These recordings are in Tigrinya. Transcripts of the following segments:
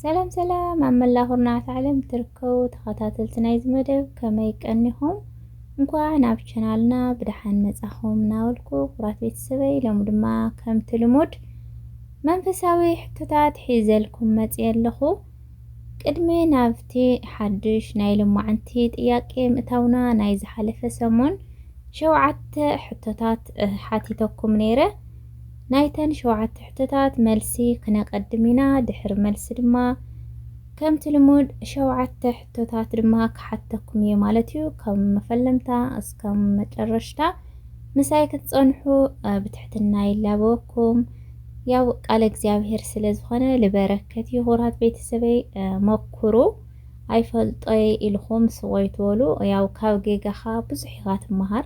ሰላም ሰላም ኣብ መላእ ኩርናዓት ዓለም ትርከቡ ተኸታተልቲ ናይዚ መደብ ከመይ ቀኒኹም እንኳዕ ናብ ቻናልና ብደሓን መጻኹም እናበልኩ ኩራት ቤተሰበይ ሎሚ ድማ ከምቲ ልሙድ መንፈሳዊ ሕቶታት ሒዘልኩም መጽየ ኣለኹ ቅድሚ ናብቲ ሓድሽ ናይ ሎማዓንቲ ጥያቄ ምእታውና ናይ ዝሓለፈ ሰሙን ሸውዓተ ሕቶታት ሓቲተኩም ነይረ ናይተን ሸውዓተ ሕቶታት መልሲ ክነቀድም ኢና ድሕሪ መልሲ ድማ ከምቲ ልሙድ ሸውዓተ ሕቶታት ድማ ክሓተኩም እየ ማለት እዩ ከም መፈለምታ እስከ መጨረሽታ ምሳይ ክትጸንሑ ብትሕትና ይላበወኩም ያው ቃለ እግዚኣብሔር ስለ ዝኾነ ልበረከት እዩ ክቡራት ቤተሰበይ መኩሩ ኣይፈልጦ ኢልኹም ስቆይ ትበሉ ያው ካብ ጌጋኻ ብዙሕ ኢኻ ትመሃር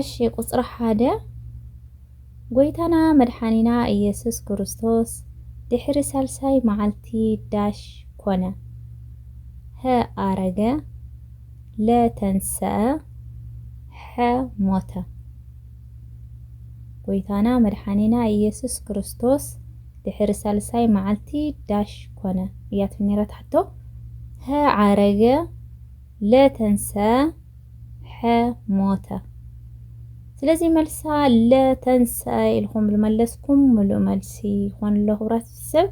እሺ ቁጽሪ ሓደ ጎይታና መድሓኒና ኢየሱስ ክርስቶስ ድሕሪ ሳልሳይ መዓልቲ ዳሽ ኮነ ሀ ኣረገ ለ ተንሰኣ ሐ ሞተ ጎይታና መድሓኒና ኢየሱስ ክርስቶስ ድሕሪ ሳልሳይ መዓልቲ ዳሽ ኮነ እያ ትም ነይራ ትሕቶ ሀ ዓረገ ለ ተንሰ ሐ ሞተ ስለዚ መልሳ ለ ተንሰ ኢልኩም ልመለስኩም ምሉእ መልሲ ይኾን ኣሎ ክብራት ሰብ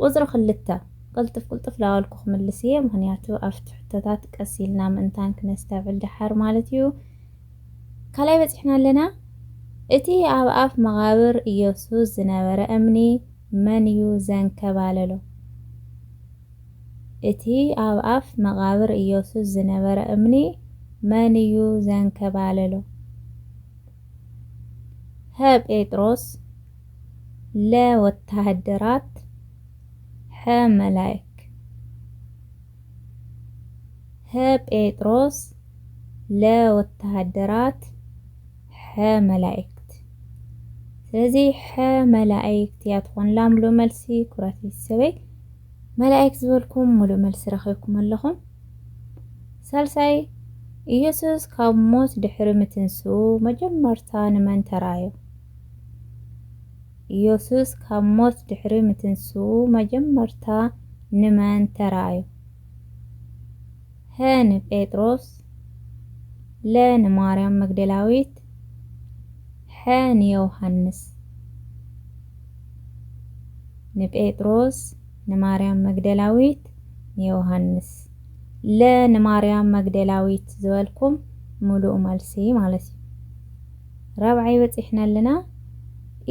ቁፅሪ ክልተ ቅልጥፍ ቅልጥፍ ላበልኩ ክምልስ እየ ምክንያቱ ኣብቲ ሕቶታት ቀስ ኢልና ምእንታን ክነስተብዕል ደሓር ማለት እዩ ካልኣይ በፂሕና ኣለና እቲ ኣብ ኣፍ መቓብር ኢየሱስ ዝነበረ እምኒ መን እዩ ዘንከባለሎ እቲ ኣብ ኣፍ መቓብር ኢየሱስ ዝነበረ እምኒ መን እዩ ዘንከባለሎ? ሀ ጴጥሮስ ለ ወተሃደራት ሐ መላይክ ሀ ጴጥሮስ ለ ወተሃደራት ሐ መላይክት ስለዚ ሐ መላይክት እያ ትኾን ላምሎ መልሲ ኩራት ቤተሰበይ መላኢክት ዝበልኩም ሙሉእ መልሲ ረኺብኩም ኣለኹም። ሳልሳይ ኢየሱስ ካብ ሞት ድሕሪ ምትንስኡ መጀመርታ ንመን ተራእዮ? ኢየሱስ ካብ ሞት ድሕሪ ምትንስኡ መጀመርታ ንመን ተራእዮ? ሀ ንጴጥሮስ ለ ንማርያም መግደላዊት ሐ ንዮውሃንስ ንጴጥሮስ ንማርያም መግደላዊት ንዮውሃንስ ለ ንማርያም መግደላዊት ዝበልኩም ምሉእ መልሲ ማለት እዩ። ራብዓይ በጺሕና ኣለና።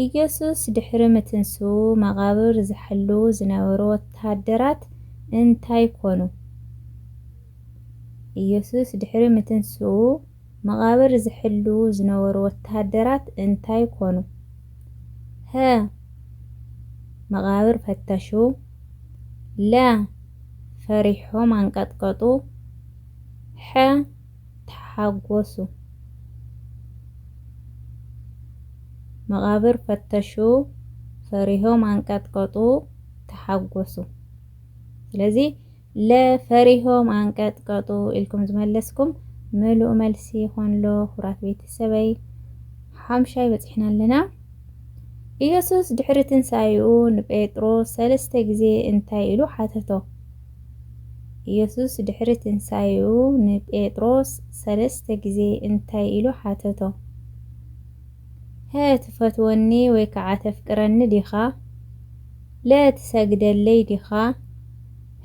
ኢየሱስ ድሕሪ ምትንስኡ መቓብር ዝሕልዉ ዝነበሩ ወተሃደራት እንታይ ኮኑ? ኢየሱስ ድሕሪ ምትንስኡ መቓብር ዝሕልዉ ዝነበሩ ወተሃደራት እንታይ ኮኑ? ሀ መቓብር ፈተሹ ለ ፈሪሖም ኣንቀጥቀጡ ሐ ተሓጎሱ መቓብር ፈተሹ ፈሪሆም ኣንቀጥቀጡ ተሓጎሱ። ስለዚ ለ ፈሪሆም ኣንቀጥቀጡ ኢልኩም ዝመለስኩም ምሉእ መልሲ ይኾንሎ ኩራት ቤተሰበይ ሓምሻይ በፂሕና ኣለና ኢየሱስ ድሕሪ ትንሣኤኡ ንጴጥሮስ ሰለስተ ግዜ እንታይ ኢሉ ሓተቶ? ኢየሱስ ድሕሪ ትንሣኤኡ ንጴጥሮስ ሰለስተ ግዜ እንታይ ኢሉ ሓተቶ? ሀ ትፈትወኒ ወይ ከዓ ተፍቅረኒ ዲኻ? ለ ትሰግደለይ ዲኻ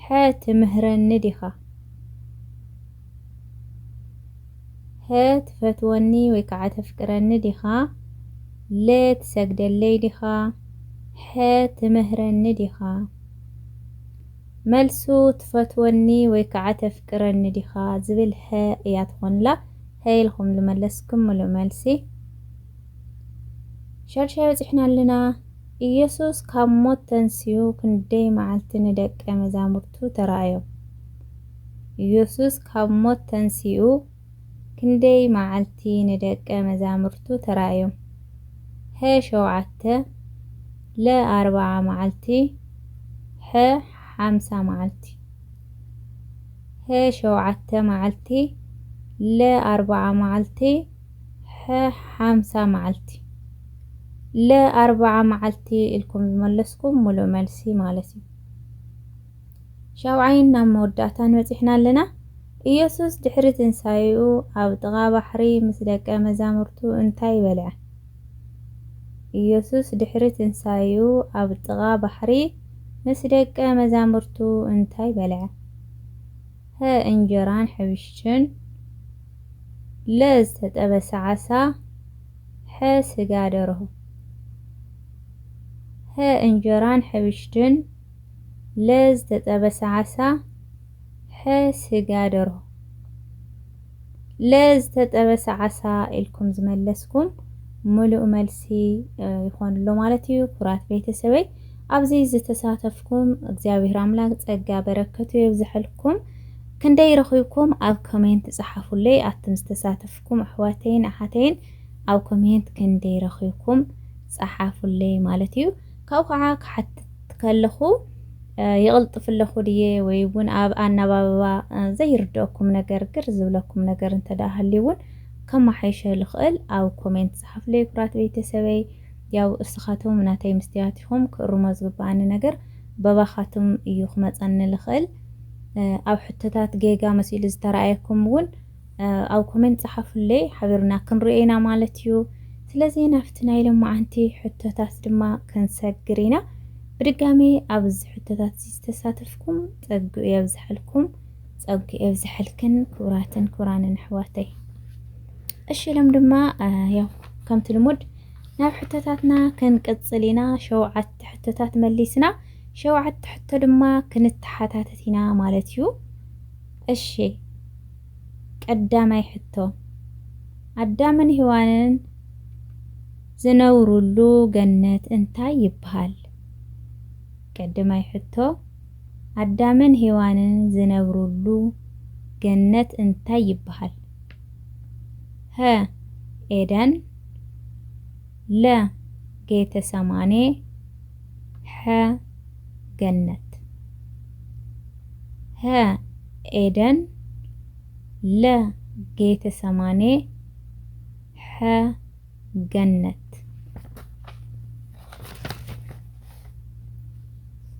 ሐ ትምህረኒ ዲኻ ሐ ትፈትወኒ ወይ ከዓ ተፍቅረኒ ዲኻ ለ ትሰግደለይ ዲኻ ሐ ትምህረኒ ዲኻ መልሱ ትፈትወኒ ወይ ከዓ ተፍቅረኒ ዲኻ ዝብል ሀ እያ ትኾንላ ሀ ኢልኹም ዝመለስኩም ምሉእ መልሲ ሻድሻይ በጺሕና ኣለና። ኢየሱስ ካብ ሞት ተንስኡ ክንደይ መዓልቲ ንደቀ መዛሙርቱ ተራእዮ? ኢየሱስ ካብ ሞት ተንስኡ ክንደይ መዓልቲ ንደቀ መዛሙርቱ ተራእዮም? ሀ ሸውዓተ ለ ኣርብዓ መዓልቲ ሐ ሓምሳ መዓልቲ ሀ ሸውዓተ መዓልቲ ለ ኣርብዓ መዓልቲ ሐ ሓምሳ መዓልቲ ለ ኣርባዓ መዓልቲ ኢልኩም ዝመለስኩም ሙሉእ መልሲ ማለት እዩ። ሻብዓይን ናብ መወዳእታን በጺሕና ኣለና። ኢየሱስ ድሕሪ ትንሳኤኡ ኣብ ጥቓ ባሕሪ ምስ ደቀ መዛሙርቱ እንታይ በልዐ? ኢየሱስ ድሕሪ ትንሳኤኡ ኣብ ጥቓ ባሕሪ ምስ ደቀ መዛሙርቱ እንታይ በልዐ? ሀ እንጀራን ሕብሽትን ለ ዝተጠበሰ ዓሳ ሐ ስጋ ደርሆ ሐ እንጀራን ሕብሽትን ለ ዝተጠበሰ ዓሳ ሐ ስጋ ደርሆ ለዝተጠበሰ ዓሳ ኢልኩም ዝመለስኩም ምሉእ መልሲ ይኾንሎ ማለት እዩ። ኩራት ቤተሰበይ ኣብዚ ዝተሳተፍኩም እግዚኣብሔር ኣምላክ ጸጋ በረከቱ የብዝሐልኩም። ክንደይ ረኺብኩም ኣብ ኮሜንት ጸሓፉለይ ኣቱም ዝተሳተፍኩም ኣሕዋተይን ኣሓተይን ኣብ ኮሜንት ክንደይ ረኺብኩም ጸሓፉለይ ማለት እዩ። ካብኡ ከዓ ክሓትት ከለኹ ይቕልጥፍ ኣለኹ ድየ ወይ እውን ኣብ ኣነባብባ ዘይርድኦኩም ነገር ግር ዝብለኩም ነገር እንተደኣ ሃልዩ እውን ከማሓይሸ ልኽእል ኣብ ኮሜንት ዝሓፍለይ ኩራት ቤተሰበይ ያው እስኻቶም ናተይ ምስትያት ኢኹም ክእርሞ ዝግብኣኒ ነገር በባኻትም እዩ ክመፀኒ ልኽእል ኣብ ሕቶታት ጌጋ መሲሉ ዝተረኣየኩም እውን ኣብ ኮሜንት ጸሓፉለይ ሓቢርና ክንሪኦ ኢና ማለት እዩ። ስለዚ ናብቲ ናይ ሎማዓንቲ ሕቶታት ድማ ክንሰግር ኢና። ብድጋሜ ኣብ እዚ ሕቶታት እዚ ዝተሳተፍኩም ጸግኡ የብዝሐልኩም ጸግኡ የብዝሐልክን ክቡራትን ክቡራንን ኣሕዋተይ። እሺ ኢሎም ድማ ያው ከምቲ ልሙድ ናብ ሕቶታትና ክንቅጽል ኢና። ሸውዓተ ሕቶታት መሊስና ሸውዓተ ሕቶ ድማ ክንተሓታተት ኢና ማለት እዩ። እሺ ቀዳማይ ሕቶ ኣዳምን ሂዋንን ዝነብሩሉ ገነት እንታይ ይብሃል? ቀድማይ ሕቶ ኣዳምን ሂዋንን ዝነብሩሉ ገነት እንታይ ይብሃል? ሀ ኤደን ለ ጌተሰማኔ ሐ ገነት ሐ ኤደን ለ ጌተሰማኔ ሐ ገነት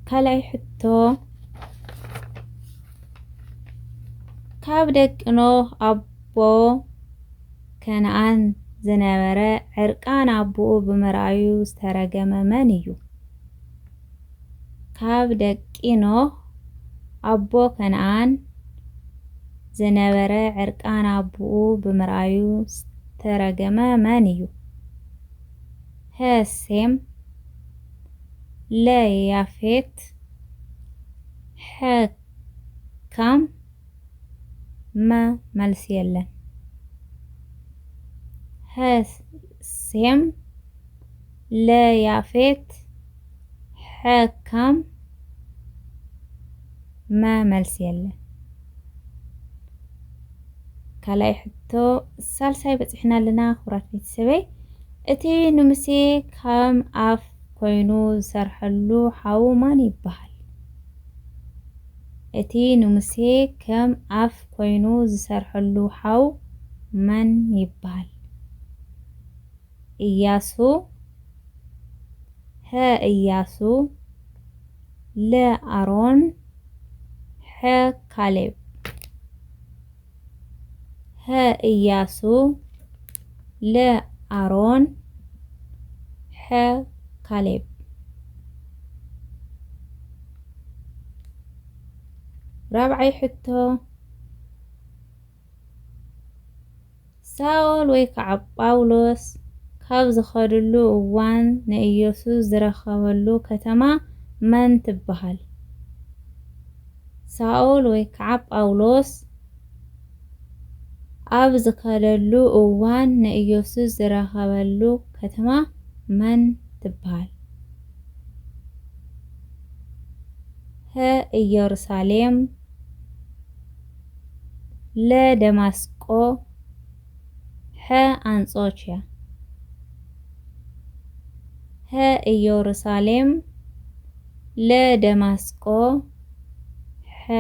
ካልኣይ ሕቶ ካብ ደቂ ኖህ ኣቦ ከነኣን ዝነበረ ዕርቃን ኣቦኡ ብምርኣዩ ዝተረገመ መን እዩ? ካብ ደቂ ኖህ ኣቦ ከነኣን ዝነበረ ዕርቃን ኣቦኡ ብምርኣዩ ዝተረገመ መን እዩ? ሀ ሴም ለ ያፌት ሐ ካም መ መልሲ የለን ሐ ሴም ለ ያፌት ሐ ካም መ መልሲ የለን ካልኣይ ሕቶ ሳልሳይ በፂሕና ኣለና ክቡራት ቤተሰበይ እቲ ንሙሴ ከም ኣፍ ኮይኑ ዝሰርሐሉ ሓው ማን ይበሃል እቲ ንሙሴ ከም ኣፍ ኮይኑ ዝሰርሐሉ ሓው መን ይብሃል? እያሱ፣ ሀ እያሱ፣ ለ ኣሮን፣ ሐ ካሌብ። ሀ እያሱ ለ ኣሮን ሐ ካሌብ ራብዓይ ሕቶ ሳኦል ወይ ከዓ ጳውሎስ ካብ ዝኸድሉ እዋን ንኢየሱስ ዝረኸበሉ ከተማ መን ትበሃል? ሳኦል ወይ ከዓ ጳውሎስ ኣብ ዝኸደሉ እዋን ንኢየሱስ ዝረኸበሉ ከተማ መን ትበሃል? ሀ ኢየሩሳሌም ለ ደማስቆ ሐ ኣንጾችያ ሐ እዮሩሳሌም ለ ደማስቆ ሐ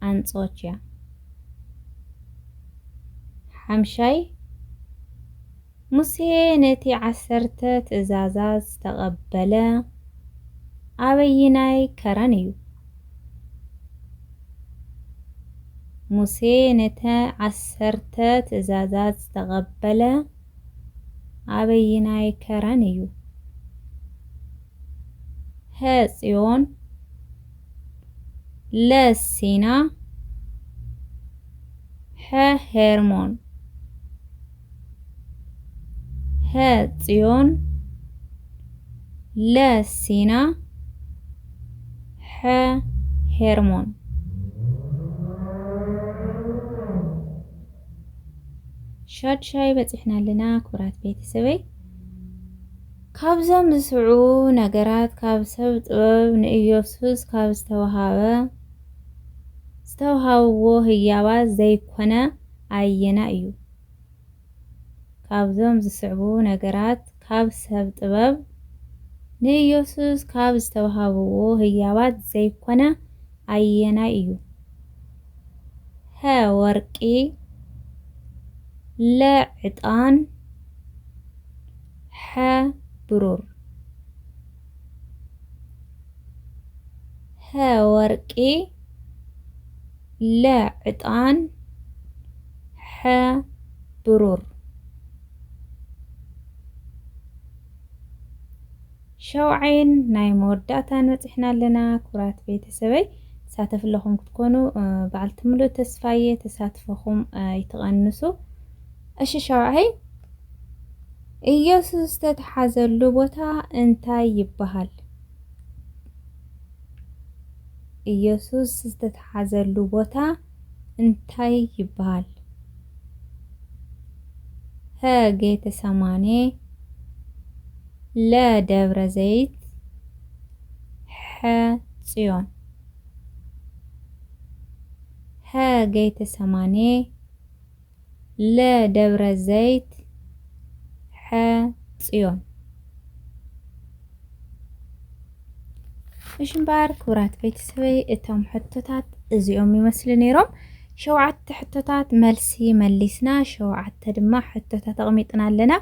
ኣንጾችያ ሓምሻይ ሙሴ ነቲ ዓሰርተ ትእዛዛት ዝተቐበለ ኣበይናይ ከረን እዩ? ሙሴ ነቲ ዓሰርተ ትእዛዛት ዝተቐበለ ኣበይናይ ከረን እዩ? ሀ ጽዮን ለ ሲና ሐ ሄርሞን ሀ ጽዮን ለ ሲና ሐ ሄርሞን ሻድሻይ በፂሕና ኣለና ክብራት ቤተሰበይ ካብዞም ዝስዑ ነገራት ካብ ሰብ ጥበብ ንኢየሱስ ካብ ዝተውሃበ ዝተውሃብዎ ህያባት ዘይኮነ ኣየናይ እዩ? ካብዞም ዝስዕቡ ነገራት ካብ ሰብ ጥበብ ንኢየሱስ ካብ ዝተውሃብዎ ህያባት ዘይኮነ ኣየናይ እዩ? ሀ ወርቂ ለ ዕጣን ሐ ብሩር ሐ ወርቂ ለ ዕጣን ሐ ብሩር ሸውዓይን ናይ መወዳእታን በፂሕና ኣለና ክብራት ቤተሰበይ ተሳተፍ ኣለኹም ክትኮኑ በዓልቲ ምሉእ ተስፋየ ተሳትፈኹም ኣይትቐንሱ እሺ ሸውዓይ ኢየሱስ ተተሓዘሉ ቦታ እንታይ ይበሃል ኢየሱስ ዝተተሓዘሉ ቦታ እንታይ ይበሃል? ሀ ጌተ ሰማኔ ለ ደብረ ዘይት ሐ ጽዮን ሀ ጌተ ሰማኔ ለ ደብረ ዘይት ሐ ፅዮን። እሺ እምበኣር ክቡራት ቤተሰበይ እቶም ሕቶታት እዚኦም ይመስሉ ነይሮም። ሸውዓተ ሕቶታት መልሲ መሊስና፣ ሸውዓተ ድማ ሕቶታት ኣቕሚጥና ኣለና።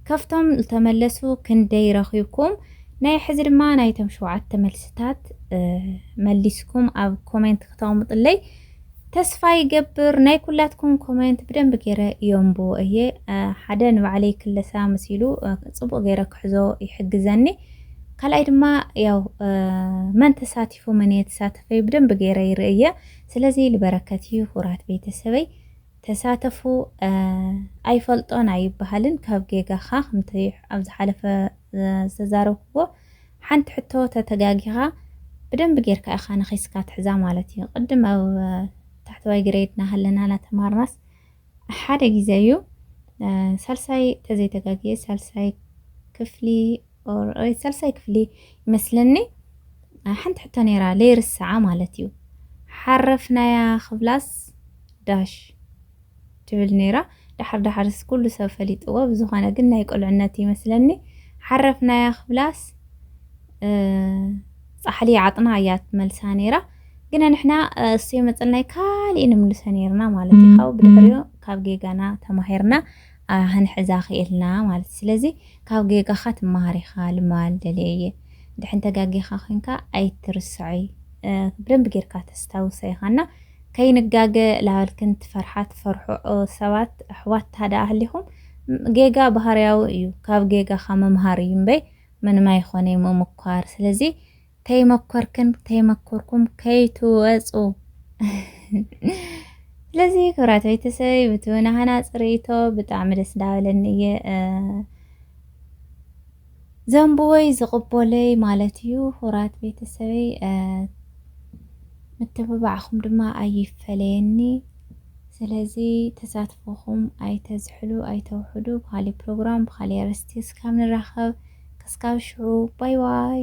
ካብቶም ዝተመለሱ ክንደይ ረኺብኩም? ናይ ሕዚ ድማ ናይቶም ሸውዓተ መልስታት መሊስኩም ኣብ ኮሜንት ክተቕምጥለይ ተስፋ ይገብር ናይ ኩላትኩም ኮሜንት ብደንብ ገይረ የንብቦ እየ ሓደ ንባዕለይ ክለሳ መሲሉ ጽቡቅ ገይረ ክሕዞ ይሕግዘኒ ካልኣይ ድማ ያው መን ተሳቲፉ መን እየ ተሳተፈይ ብደንብ ገይረ ይርእየ ስለዚ ልበረከት እዩ ሁራት ቤተሰበይ ተሳተፉ ኣይፈልጦን ኣይበሃልን ካብ ጌጋኻ ከምቲ ኣብ ዝሓለፈ ዝተዛረብኩዎ ሓንቲ ሕቶ ተተጋጊኻ ብደንቢ ጌርካ ኢኻ ነኺስካ ትሕዛ ማለት እዩ ቅድም ኣብ ታሕተዋይ ግሬድ ናሃለና ናተማርናስ ሓደ ግዜ እዩ ሳልሳይ ተዘይተጋግየ ሳልሳይ ክፍሊ ኦር ሳልሳይ ክፍሊ ይመስለኒ ሓንቲ ሕቶ ነይራ ለይርስዓ ማለት እዩ ሓረፍናያ ክብላስ ዳሽ ትብል ነይራ ዳሓር ዳሓርስ ኩሉ ሰብ ፈሊጥዎ ብዝኮነ ግን ናይ ቁልዕነት እዩ መስለኒ ሓረፍናያ ክብላስ ጻሕሊ ዓጥና እያ ትመልሳ ነይራ ግና ንሕና እሱ የመጽልናይ ካሊእ ንምልሶ ነይርና ማለት እዩ ካብኡ ብድሕሪኡ ካብ ጌጋና ተማሂርና ክንሕዛ ክኢልና ማለት ስለዚ ካብ ጌጋኻ ትመሃር ኢኻ ልማል ደልየ እየ ድሕን ተጋጊኻ ኮንካ ኣይትርስዖይ ብደንብ ጌርካ ተስታውሶ ኢኻና ከይንጋገ ላበልክን ትፈርሓ ትፈርሑ ሰባት ኣሕዋት ታደኣ ሃሊኹም ጌጋ ባህርያዊ እዩ ካብ ጌጋኻ ምምሃር እዩ እምበይ ምንም ኣይኾነይ ምሙኳር ስለዚ ተይመኮርክን ተይመኮርኩም ከይትወጹ ስለዚ ክብራት ቤተሰበይ ብትውና ሃናጽ ርእይቶ ብጣዕሚ ደስ እንዳበለኒ እየ ዘንቡወይ ዝቕቦለይ ማለት እዩ ሁራት ቤተሰበይ ምትብባዕኹም ድማ ኣይፈለየኒ ስለዚ ተሳትፎኹም ኣይተዝሕሉ ኣይተውሕዱ ብካሊእ ፕሮግራም ብካሊእ ኣርእስቲ እስካብ ንራኸብ ክስካብ ሽዑ ባይ ባይ